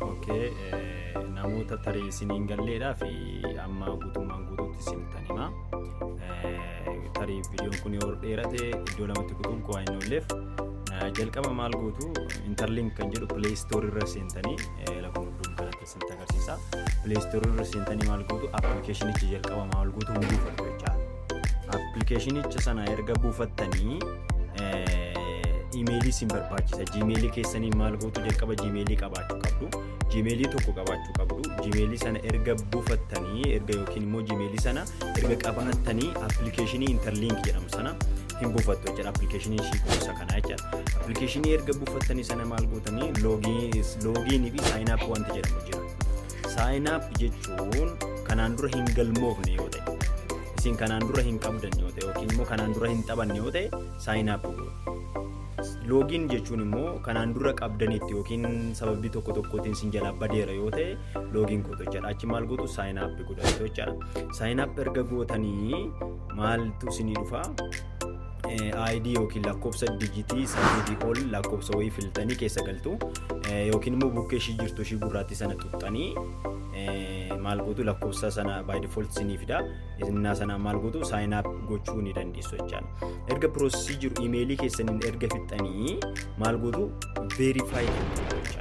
Okay, eh, namoota tarii isiniin galleedhaa fi amma guutummaan guutuutti isin tan hima. Eh, Tarii viidiyoon kun yoo dheerate iddoo lamatti kutuun koo hin oolleef eh, jalqaba maal gootu interlink kan jedhu play store irra seentanii eh, lakkuma isinitti agarsiisa. Play Store irra seentanii maal gootu appilikeeshinicha jalqaba maal gootu hin buufattu jechaadha. Appilikeeshinicha sana erga buufattanii imeelii isin barbaachisa. Jiimeelii keessanii maal gootu jalqaba jiimeelii qabaachuu qabdu. Jiimeelii tokko qabaachuu qabdu. Jiimeelii sana erga buufattanii erga yookiin immoo jiimeelii sana erga qabattanii appilikeeshinii interliink jedhamu sana hin buufattu jechuudha appilikeeshinii ishii gosa kana jechuudha. Appilikeeshinii erga buufattanii sana maal gootanii loogiinii fi saayinaap wanti jedhamu jira. Saayinaap jechuun kanaan dura hin galmoofne yoo ta'e isin kanaan dura hin qabdan yoo ta'e yookiin immoo kanaan dura hin taphanne yoo ta'e saayinaap loogiin jechuun immoo kanaan dura qabdanitti yookiin sababii tokko tokkootiin sin jalaa badeera yoo ta'e loogiin gootu jechuudha. Achi maal gootu saayinaap godhatu jechuudha. Saayinaap erga gootanii maaltu isinii dhufa ID yookiin lakkoofsa dijitii saddeetii ol lakkoofsa wayii filtanii keessa galtu yookiin immoo bukkee ishii jirtu ishii gurraattii sana tuqxanii maal gootu lakkoofsa sana by default isinii fida innaa sana maal gootu sign up gochuu ni dandeessu jechaan erga piroosesii jiru imeelii keessaniin erga fixxanii maal gootu verify jechaan